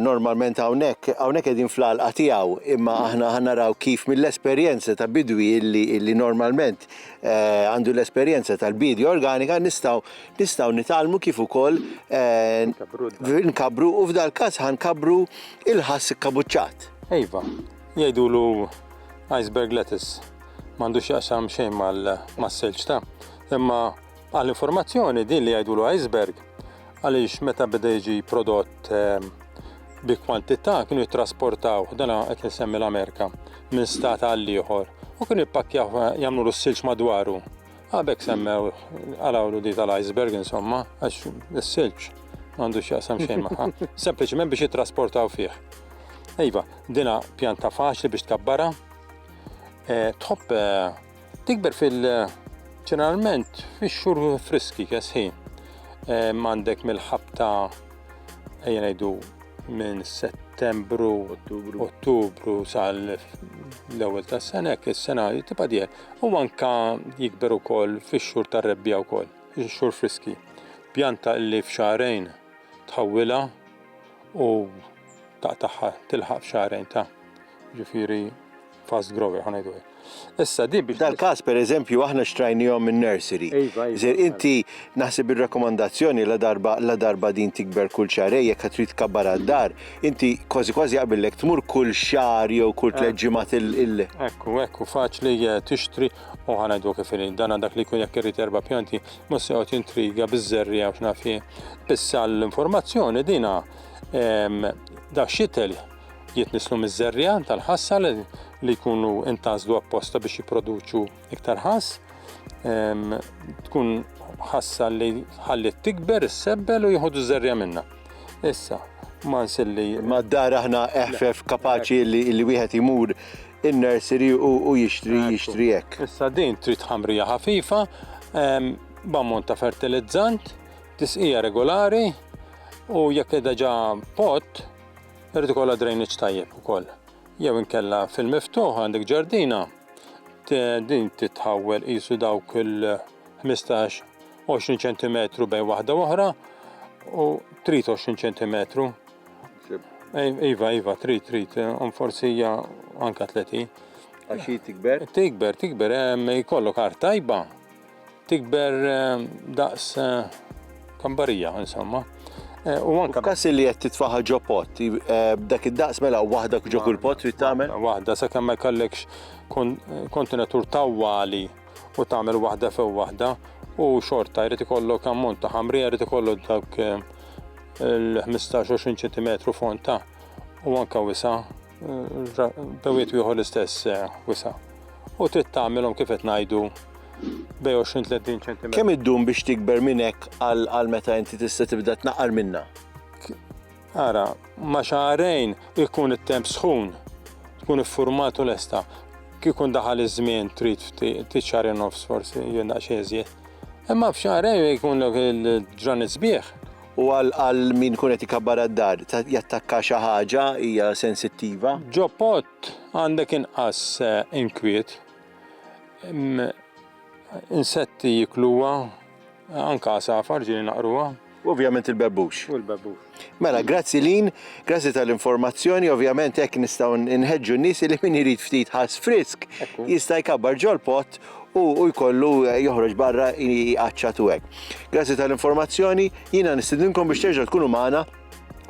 normalment hawnhekk hawnhekk qegħdin fl-għalqa tiegħu, imma aħna ħanaraw kif mill-esperjenza ta' bidwi illi, illi normalment eh, għandu eh, l-esperjenza tal-bidi organika nistgħu nistgħu nitalmu kif ukoll eh, nkabru u f'dal każ ħankabru il-ħass kabuċċat. Ejva, jgħidulu iceberg lettuce m'għandux jaqsam xejn mal-selġ ta' imma Għal informazzjoni din li jgħidulu iceberg għaliex meta beda jiġi prodott ehm, bi kwantità kienu jittrasportaw dan qed insemmi l-Amerika minn stat għal ieħor u kienu jippakkjaw eh, jagħmlu l-silġ madwaru. Għabek semmew għalawlu di tal-iceberg insomma għax is-silġ għandu x'jaqsam xejn magħha, sempliċement biex jittrasportaw fih. Iva, dina pjanta faċli biex tkabbara, eh, tħobb eh, Tikber fil ġeneralment fix-xhur friski kesħin. Għandek mill-ħabta ejja ngħidu minn Settembru, Ottubru, Ottubru sal l-ewwel tas-sena hekk is-sena tibqa' dieħel. U anka jikber ukoll fix-xhur tar-rebbija wkoll, fix-xhur friski. Pjanta li f'xahrejn tħawwilha u taqtaħħa tilħaq f'xahrejn ta' ġifieri Fast grower, ħanajdu hekk. Issa din biex. Dal-każ pereżempju aħna xtrajnihom minn nursery. Iva, iva. Żer inti naħseb ir-rakkomandazzjoni la darba la darba din tikber kull xarej jekk trid tkabbar għad-dar, inti kważi kważi jaqbillek tmur kull xahar jew kull eh. tliet ġimgħat il. Ekku, ekku, faċli eh, tixtri u ħanajdu kif irid. Dan dak li jkun jekk irid erba' pjanti, mhux se joqgħod intriga biż-żerri għax naf Issa l-informazzjoni dina da xitel jitnisslu miż-żerriegħa tal-ħassa li jkunu intażlu apposta biex jipproduċu iktar ħass. Ehm, tkun ħassa li ħallit tikber is-sebbel u jieħdu żerriegħa minna. Issa, ma nsilli. Ma d-dar aħna eħfef kapaċi li wieħed imur in-nursery u jixtri jixtri hekk. Issa din trid ħamrija ħafifa, ehm, b'ammont ta' fertilizzant, tisqija regolari u jekk qiegħda ġa pot, Irid ikollha drainage tajjeb ukoll. Jew inkella fil-miftuħ għandek ġardina din titħawwel qisu dawk il-15 20 cm bejn waħda oħra u trid 20 cm. Iva, iva, trid, trid, un forsi hija anka 30. Għaxi tikber? Tikber, tikber, jkollok art tajba, Tikber daqs kambarija, insomma. Eh, u anka. Kas li qed titfaħa ġo pot, eh, dak id-daqs mela waħda ġo kull pot trid tagħmel? Waħda sakemm ma jkollekx kontenatur tawwali u tagħmel waħda few waħda u xorta jrid ikollok ammont ta' ħamrija jrid ikollok dak eh, il-15-20 cm fond ta' u anka wisa' Bewiet wieħu l-istess eh, wisa. U trid tagħmilhom kif qed ngħidu bej 20-30 cm. Kemm iddum biex tikber minn hekk għal meta inti tista' tibda tnaqqar minna? Ara, ma xaħrejn ikun it-temp sħun, tkun iffurmat u lesta. Kikun daħal iż-żmien trid tiċċari nofs forsi, jien daqsxejn żjed. Imma f'xaħrejn ikun il-ġranet sbieħ U għal min ikun qed ikabbar għad-dar, jattakka xi ħaġa hija sensittiva. Ġo pott għandek inqas inkwiet. Insetti jikluha, anke għasafar ġieli naqruha. U ovvjament il-bebbux. U l-bebbux. Mela, grazzi Lin, grazzi tal-informazzjoni, ovvjament hekk nistgħu nħeġġu n-nies li min irid ftit ħass frisk jista' jkabbar ġol-pott u u jkollu joħroġ barra jqaċċat u hekk. Grazzi tal-informazzjoni, jiena nistidinkom biex terġgħu tkunu magħna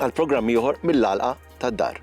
għal programm ieħor mill-għalqa tad-dar.